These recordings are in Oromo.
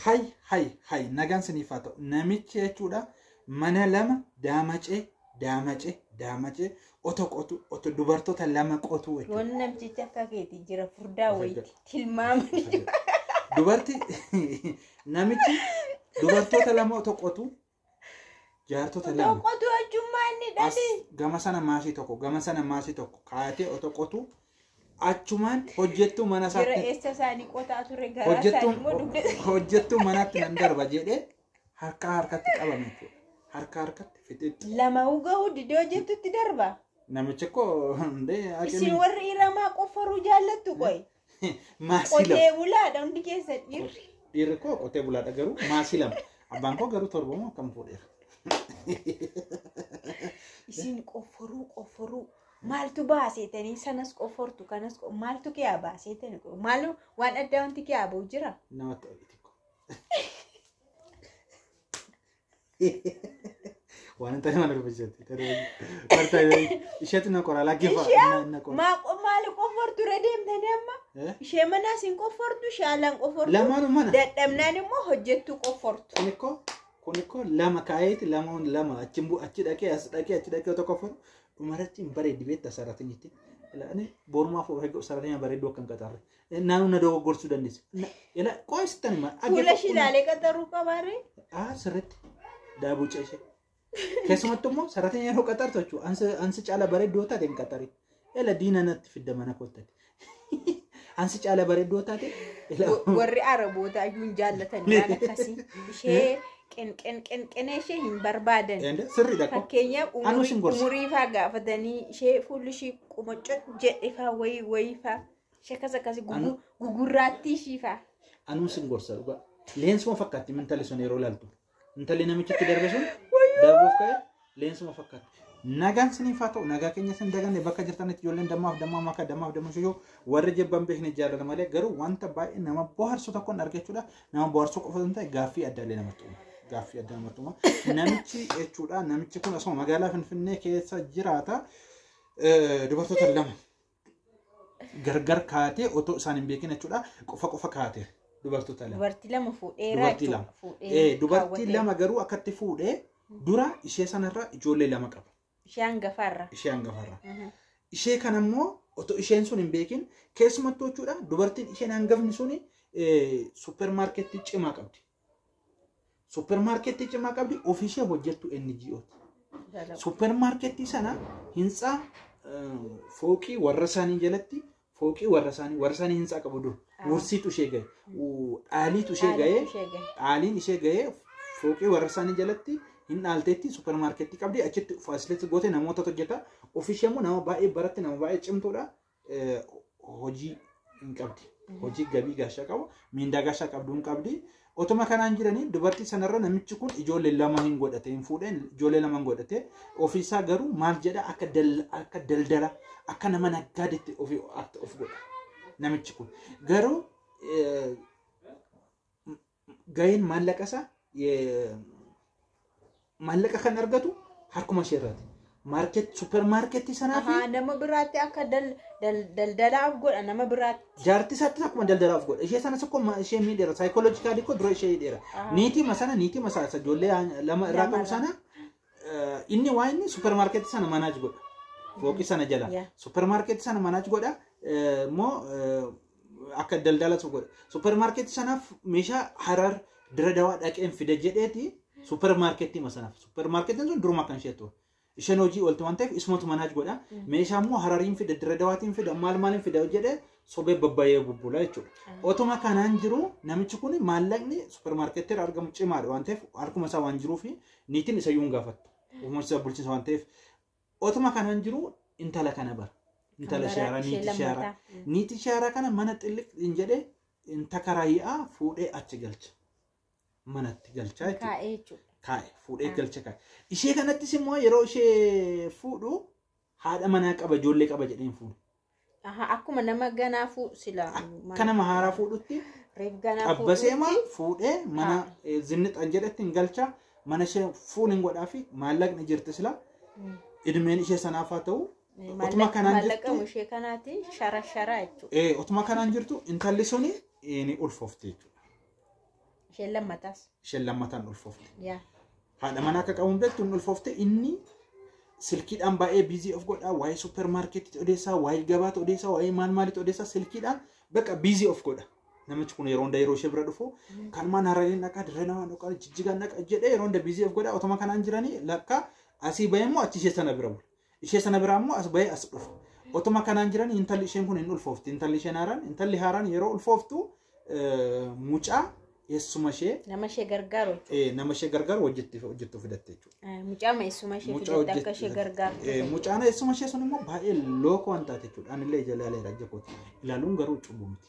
hay hay hay nagaan siniif haa ta'u namichi jechuudha mana lama daamacee daamacee daamacee oto qotu oto dubartoota lama qotu jechuudha. Wanni namtichi akka keeti jira furdaa wayiiti tilmaamani. Dubarti namichi dubartoota lama oto qotu jaartota Otoo lama qotuu ajjummaa inni as dhali. gama sana maasii tokko gama sana maasii tokko kaayatee otoo qotuu achumaan hojjettuu mana Jira isaatti eessa isaanii qotaa ture garaa isaanii hojjettuu immoo dugda. hojjettuu manaatti nan darba jedhee harkaa harkatti qabame jechuudha. Harkaa harkatti fixixxi. Lama ugahuu didee hojjettutti darba. Namichi koo hundee Isin warri iramaa qofforuu jaallattu qoy. Maasii lama. Qotee bulaadha hundi keessa dhiirri. Dhiirri koo qotee bulaadha garuu maasii lama. Abbaan koo garuu torba moo akkam fuudheera. Isin qofforuu qofforuu maaltu baaseetanii sanas qoffortu kanas qo- maaltu kiyaa baaseetanii qo- maalu waan addaa wanti kiyaa ba'u jira. Namatti oliti koo. Waan hin taane maal dubbachatti? Martaa isheetu na qoraa lakkifaa. Ishee maa- maali qoffortu irra deemtanii amma ishee manaa siin qoffortu ishee alaan qoffortu Lamaan mana. dadhabnaan immoo hojjettuu qoffortu Kun ikkoo kun ikkoo lama kaayeeti lamaan lama achi bu achi dhaqee as dhaqee achi dhaqee otoo qoffatu dhumarratti hin bareeddi beekta sarartiin jettee. Ani borumaaf of eeggatu sarartiin bareedduu akka hin qaxarre. Naanuu na dogoggorsuu dandeessa. Na- Ila qo'ee sittan hima. Fuula ishii ilaalee qaxaruu qabaarree? Ah, sirriitti. Daabuu ceeshe. Keessumattuu immoo sararri yeroo qaxartu jechuudha. Ansi, ansi caala bareeddoo taate hin qaxari. Ila diina natti fidda mana koottati. Ansi caala bareeddoo taate. Ila Warri Arabootaa iyyuu hin jaallatan waan akkasii. Ishee qenqenqenqenee ishee hin barbaadan. Ende sirriidha koo. Fakkeenyaaf Anuu umurii- isin gorsa. umurii faa gaafatanii ishee fuulli ishii qumacco jedhe faa wayii wayii faa. Shekas akkasi Anu- gugurraattii shiifaa. Anuun sin gorsa dhugaa. Leensuma fakkaatti intali sun yeroo laaltu. Intalli namichitti darbe sun darbuuf ka'e leensuma fakkaatti. Nagaan siniif haa ta'u nagaa keenya sin daganne bakka jirtanitti ijoolleen dammaaf dammaa maka dammaaf damma shuyoo warri jibban beekne jaalala malee garuu wanta baay'ee nama bohaarsu tokkoon argachuudha nama bohaarsuu qofa hin ta'e gaaffii addaa illee namatti uuma. Gaaffii addaa namatti uuma. Namichi jechuudha namichi kun osoo magaalaa Finfinnee keessa jiraata eh, dubartoota lama gargar kaatee otoo isaan hin beekin jechuudha qofa qofa kaate dubartoota lama. Dubartii lama fuudhee Dubartii lama. Ee, dubartii lama garuu akkatti fuudhee dura ishee sanarra ijoollee lama qaba Ishee hangafaarra. ishee hangafarra. Mhm. Ishee kan ammoo otoo isheen sun hin beekin keessumattuu jechuudha dubartiin isheen hangafni sun suuppermaarkeettii cimaa qabdi. Suppermaarkettii cimaa qabdi ofiishee hojjettu NGOti. Suppermaarkettii sana hintsaa fooqii warra isaanii jalatti fooqii warra isaanii warra isaanii hintsaa qabu dur wursiitu ishee gahe dhaaliitu ishee gahe dhaaliin ishee gahe fooqii warra isaanii jalatti hin dhaalteetti suppermaarkettii qabdi achitti faasilitti goote namoota hojjeta ofiishee immoo nama baay'ee baratti nama baay'ee cimtuudha eh, hojii hin qabdi. Hojii gabii gaashaa qabu, miindaa gaashaa qabdu hin qabdi. Otuma kanaan jiranii dubartii sanarra namichi kun ijoollee lama hin godhate hin fuudheen ijoollee lama hin godhate ofiisaa garuu maal jedha akka dal- akka daldala akka nama naggaadetti ofi akka of godha namichi kun garuu eh, gaheen maallaqa isaa maallaqa kan argatu harkuma ishee irraati. Maarket suppermaarketii sanaa fi Ahaa, nama biraatti akka dal- dal- daldalaaf godha nama biraatti. jaartii isaattis akkuma daldalaaf godha. Ishee sanas akkuma ma- ishee miidheera. Saayikooloojikaalii koo dura ishee hidheera. Ahaa. Niitima sana niitima sana isa ijoollee yaa- lama irraa Lama qabu irraa. sana eh, inni waa inni suppermaarketii sana manaaj godha. Fooqii sana jala. Yeah. Suppermaarketii sana manaaj godha. Eh, Immoo eh, akka daldalatu godhe. Suppermaarkeetii sanaaf meeshaa harar dira dawaa dhaqeen fida jedheeti suppermaarkeetii ma sanaaf. Suppermaarkeetiin sun duruma kan ishee ture. Isheen hojii oolti waan ta'eef isumatu manaaj godha. Meeshaa immoo harariin fida dira dawaatiin fida maal maaliin fida jedhee sobee babbayee bubbula jechuudha. Otuma kanaan jiru namichi kun maallaqni suppermaarkeetii irraa argamu cimaadha waan ta'eef harkuma isaa waan jiruuf niitiin isa iyyuu hin gaafattu. Uumamni isaa bulchiinsa waan ta'eef Otuma kanan jiru intala kana bara. Kan Intala baraa shaaraa ishee niiti shaaraa. lammataa. Mm. Niiti shaaraa kana mana xilliq hin jedhe hin takaraayi'aa fuudhee achi galcha. Manatti galchaa jechuudha. Kaa'ee jechuudha. Kaa'e fuudhee Ah. galcha kaa'e. Ishee kanattis immoo yeroo ishee fuudhu haadha manaa qaba ijoollee qaba jedhee hin fuune. Aha, akkuma nama ganaa fuu sila. Akka nama haaraa fuudhutti Reef ganaa qabbaseema fuudhuutti. fuudhee mana eh, zinnixan jedhetti hin galcha mana ishee fuun hin godhaa fi maallaqni jirti sila idmeen ishee sanaaf haa ta'u utuma kanaan Maallaqamu jirtu ishee kanaati shara sharaa jechuudha. eh, utuma kanaan jirtu intalli suni eh, ni ulfoofti jechuudha. Isheen lammataas. isheen lammataan ulfoofte. Yaa. Haadha manaa akka qabuun beektu hin ulfoofte inni silkiidhaan baay'ee biizii of godhaa waa'ee suppermaarkeetti odeessaa waa'ee gabaatti odeessaa waa'ee maal maalitti odeessaa silkiidhaan bakka biizii of godha. Namichi kun yeroo hunda yeroo ishee bira dhufu kanumaan harareen dhaqaa dirree namaa dhaqaa jijjigaan dhaqaa jedhee yeroo hunda biizii of godhaa otoma kanaan jiranii lakka asii bahee immoo achi ishee sana bira bula. Ishee sana biraa immoo as bahee as dhufe. Otuma kanaan jiran intalli isheen kun hin ulfoofti. Intalli isheen haaraan intalli haaraan yeroo ulfooftu eh, mucaa eessuma ishee Nama ishee gargaaru jechuudha. eh, nama ishee gargaaru hojjetti hojjettu fidatte jechuudha. Eh, Mucaa eessuma ishee Mucaa fidatte akka ishee hojjetti- eh, gargaartu. Mucaan eessuma ishee sun immoo baay'ee lookoo waan taate jechuudha. Anillee ija ilaaleera ija kooti. Ilaaluun garuu cubbuu miti.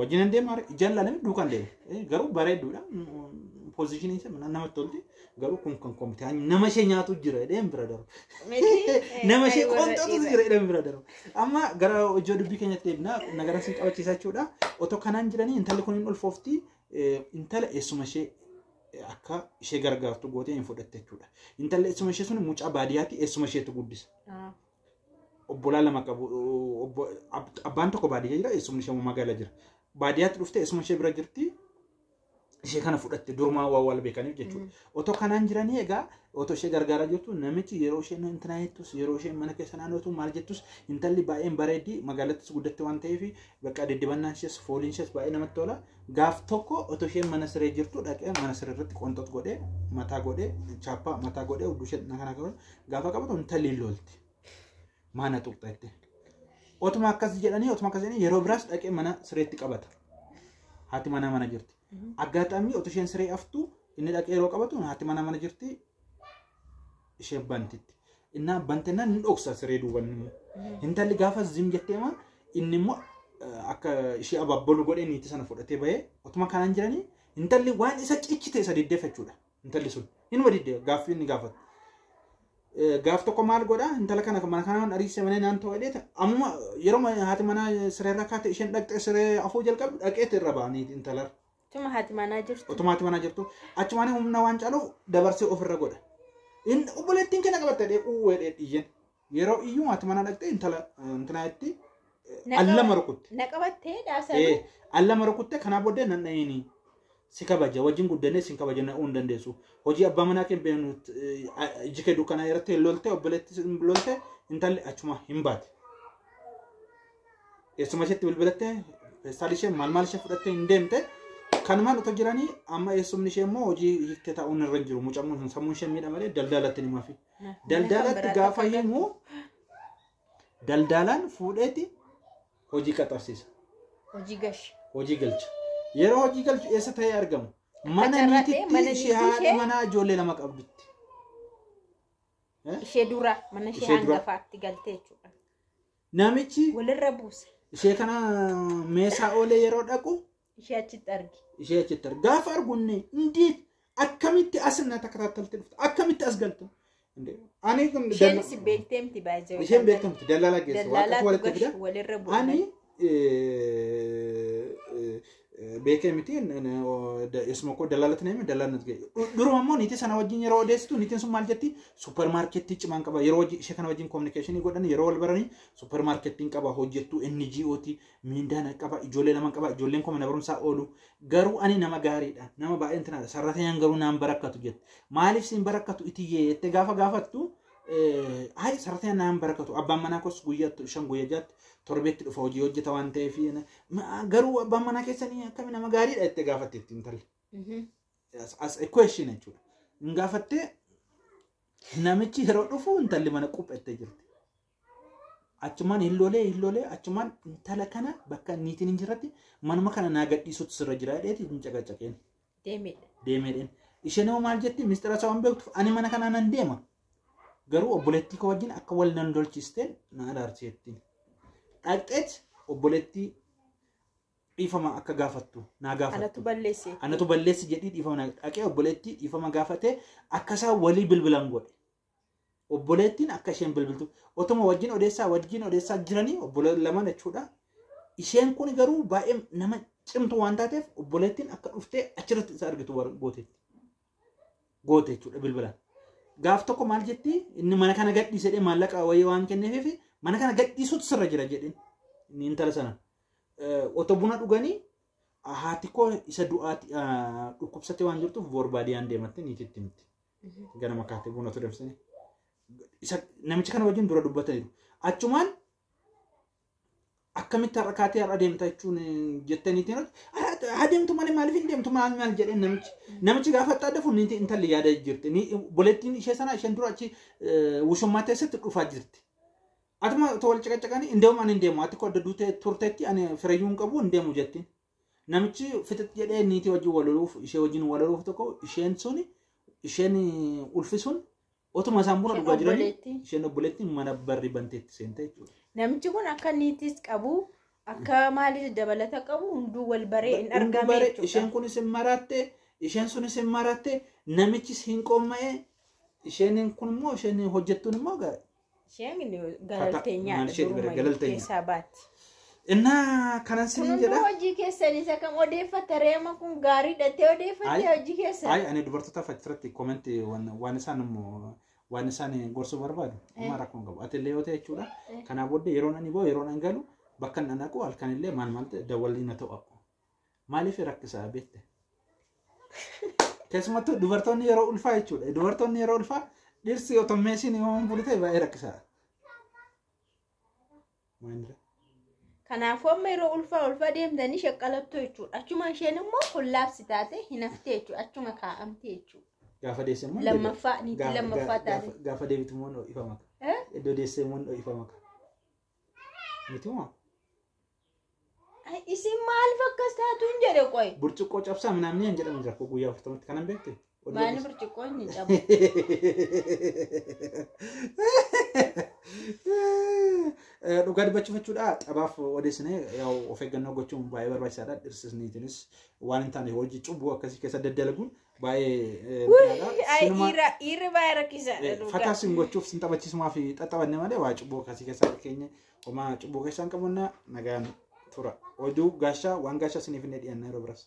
Wajjin hin deemu haree jallale duukaan deema. Eh, Garuu bareedduudha. Pozishinii ishee mana namatti tolti. Garuu kun kan koomti. Nama ishee nyaatu jira jedheen bira darba. Nama ishee qoonxatu jira jedheen bira darba. Amma gara hojii dubbii keenyatti deebina. Nagara siin qabachiisaa jechuudha. Otoo kanaan jiranii intalli kun hin ulfoofti. Eh, Intala eessuma ishee eh, akka ishee gargaartu gootee hin fudhatte jechuudha. Intalli eessuma ishee sun mucaa baadiyyaatti eessuma isheetu guddisa. obbolaa lama qabu obbo- ab- abbaan tokko baadiyyaa jira eessumni ishee immoo magaala jira baadiyyaatti dhuftee eessuma ishee bira jirti ishee kana fudhatte durumaa waa wal beekaniif jechuudha otoo kanaan jiranii egaa otoo ishee gargaaraa jirtu namichi yeroo isheen intinaa jettus yeroo isheen mana keessa naannootu maal jettus intalli baay'een bareeddii magaalattis guddatte waan ta'eef bakka diddibannaan ishees fooliin ishees baay'ee namatti tola gaaf tokko otoo isheen mana siree jirtu dhaqee mana siree irratti qonxox godhee mataa godhee chaappaa mataa godhee udduu ishee kana kana Gaafa qabatu intalli hin lolti. Maana tuqxa jettee. Otuma akkas jedhanii otuma akkas jedhanii yeroo biraas dhaqee mana sireetti qabata. Haati manaa mana jirti. Aggaataamii otoo isheen siree aftu inni dhaqee yeroo qabatu haati manaa mana jirti ishee bantitti. Innaa bantennaan ni dhoksa siree duuban immoo. Intalli gaafa zim jettee maa inni immoo eh, akka ishee abaabolu godhee niitii sana fudhatee bahee otuma kanaan jiranii intalli waan isa cichite isa deddeeffachuudha. intalli sun hinuma didde gaaffii inni gaafatu. Eh, Gaaf tokko maal godha intala kana mana kanaan ariise manee naan ta'u jedheeta ammuma yeroo ma- haati manaa siree irra kaate isheen dhaqxee siree afuu jalqabdu dhaqeeti irra ba'anii intalar Tuma haati manaa jirtu. otuma haati manaa jirtu achumaan humna waan caaluuf dabarsee ofirra godha. Inni obboleettiin kenna qabatte dhee uwwee dhee dhiyyeen Yeroo iyyuu maati mana dhaqxee intala intinaa itti allama rukutte. Na qabattee daasa. Ee allama rukutte kanaa booddee nan dhahiini. Si kabaja wajjin guddannee sin kabaja na uun dandeessu. Hojii abbaa manaa kee beeknu iji kee dukkanaa irratti hin lolte obboleetti hin lolte intalli achuma hin baate. Eessuma isheetti bilbilattee feestaal ishee maal maal ishee fudhattee hin deemte. Kanumaan otoo jiranii amma eessumni ishee immoo hojii hiiktee taa'uun irra hin jiru. Mucammoo sammuun ishee miidha malee daldaalatti ni mafi. Daldaalatti gaafa himu daldaalaan fuudheeti hojii qaxarsiisa. Hojii gashi. Hojii galcha. Yeroo hojii galchu eessa ta'ee argamu? Mana Qacarratee, mana niititti niitii ishee haadha ishee. manaa ijoollee lama qabdutti. Ishee dura mana ishee Ishee dura. hangafaatti galtee jechuudha. Namichi Walirra buuse. ishee kana meeshaa oolee yeroo dhaqu ishee achitti arge. ishee achitti arge. Gaafa argu inni indeed akkamitti as na takataatalti dhufte akkamitti as galte. Inde, Ani kun Isheen dalla- si beekteemti baay'ee. isheen beekamti dallala geesse waan Dallaalaa akka walitti fida. tugash walirra bu'uura. Ani eh, eh, eh, beekee miti n- n- o- da- isuma koo dallaalatti na hime dallaalli natti ga'e. Du- Duruma immoo niitii sana wajjin yeroo odeessitu niitiin sun maal jetti suppermaarkettii cimaan qaba yeroo hojii ishee kana wajjin kominikeeshinii godhan yeroo wal baranii suppermaarkettiin qaba hojjettuu NGOti Miindaa na qaba, ijoollee lama qaba, ijoolleen koo mana barumsaa oolu. Garuu ani nama gaariidha, nama baay'een tanaadha. Sarrateenyaan garuu naan barakkatu jette. Maaliif siin barakkatu itiyyee jettee gaafa gaafattu hayi sarrateenyaan naan barakkatu. Abbaan manaa koos guyyaatti shan guyyaa jaatti torbeetti dhufa hojii hojjeta waan ta'eef garuu abbaan manaa keessanii akkami nama gaariidha jettee gaafatte itti intalli. As a question jechuudha. Hin gaafattee namichi yeroo dhufu intalli mana quphettee jirti. achumaan hin lolee hin lolee achumaan intala kana bakka niitiin hin jirretti manuma kana naa gadhiisuutu sirra jira jedheeti hin caqacaqeen Deemee. deemeedheen. Isheen immoo maal jetti mistira isaa waan beektuuf ani mana kanaa nan deema garuu obboleettii koo wajjin akka wal nan lolchiisteen na araarsi jettiin. Dhaqxeet obboleettii dhiifama akka gaafattu naa Anatu gaafattu. balleesse. Anatu balleessi jedhii dhiifama naa dhaqee obboleettii dhiifama gaafatee akka isaan walii bilbilan godhe. Obboleettiin akka isheen bilbiltu otuma wajjin odeessaa wajjin odeessaa jiranii obboleewwan lama jechuudha. Isheen kun garuu baay'ee nama cimtu waan taateef obboleettiin akka dhuftee achirratti isa argitu gooteetti. Goote jechuudha bilbilaan. Gaaf tokko maal jetti inni mana kana gadhiisedhee maallaqa wayii waan kenneef mana kana gadhiisuutu sirra jira jedhin inni intala sana. Otoo buna dhuganii haati koo isa du'aati dhukkubsattee waan jirtuuf boorbaadiyaan deemattee niititti himti. Ganama kaatee buna tureemsanii. Isa namicha kana wajjin dura dubbataniiru. Achumaan akkamitti har'a kaatee har'a deemta jechuun jettaniitiin haa deemtu malee maaliif hin deemtu maal maal jedhee namichi namichi gaafa xaadda fun niitii intalli yaada jirti Ni- boleettiin ishee sana isheen dura achi eh, wushummaa teessatti dhufaa jirti. Atuma otoo wal caqacaqanii hin deemu ani hin deemu ati koo adda duutee turteetti ani firayyuu hin qabu hin deemu jettiin. Namichi fixix jedhee niitii wajjin wal loluuf ishee wajjin wal loluuf tokko isheen sun isheen ulfi sun otuma isaan buna Isheen dhugaa jiranii obboleetti. isheen obboleetti mana barri banteetti seente jechuudha. Namichi kun akka niitis qabu akka maalis dabalata qabu hunduu wal baree hin Hunduu argame bare jechuudha. isheen kunis hin maraatte isheen sunis hin maraatte namichis hin qoomma'e isheen kun immoo isheen hojjettuun immoo ga- Isheen galaltee maal nyaata isheeti bira, durumayyuu galaltee nyaata. keessaa baatti. Innaa kanan Kun siniin hunduu jedha. hojii keessan isa kam odeeffatta reema kun gaarii dhattee odeeffatte Ayi. hojii keessan. Ayi ani dubartoota facciratti koomenti waan isaan immoo waan isaan gorsuu barbaadu amma rakkoo hin qabu. Ati illee yoo ta'e jechuudha. Kanaa booddee yeroon ani ba'u yeroon an galu bakka inni anaqu halkan illee maal maal ta'e dawwalli na ta'u. Maaliif rakkisaa beekte? Keessumattuu dubartoonni yeroo ulfaa jechuudha. Dubartoonni yeroo ulfaa dhirsi otoo meeshiin himamuun bulu ta'e baay'ee rakkisaadha. Maalirra? Kanaafuu amma yeroo ulfaa ulfaa deemtanii shaqqalattu jechuudha. Achuma isheen immoo kollaabsi taate hinafte jechuudha. Achuma kaa'amte jechuudha. Gaafa deesse immoo Lammaffaa deebi'a. niitii Gaafa- lammaffaa gaafa- taate. gaafa- Gaafa deebitu immoo ho'ifama. Eh? Iddoo deesse immoo ho'ifama. Miti moo? Ay, Isin maal fakkas taatuun jedhe qoy. Burcuqqoo cabsaa minaamni hin jedhamu jira koo guyyaa afurtamatti kanan beekte. Maanni burcuqqoo inni cabu. Dhugaa dubbachuuf jechuudha taphaaf odeessine yaa'u of eeggannoo gochuun baay'ee barbaachisaadha dhirsisniitinis waan hin taane hojii cubbuu akkasii keessa daddalaguun baay'ee Ay, dhiira dhiirri baay'ee rakkisaadha. dhugaa. Fakkaas hin gochuuf sin taphachiisumaa fi xaxabanne malee waa cubbuu akkasii keessa keenya Homaa cubbuu keessaan qabannaa nagaan tura. Oduu gaashaa waan gaashaa isiniif hin dhiyaanna yeroo biras.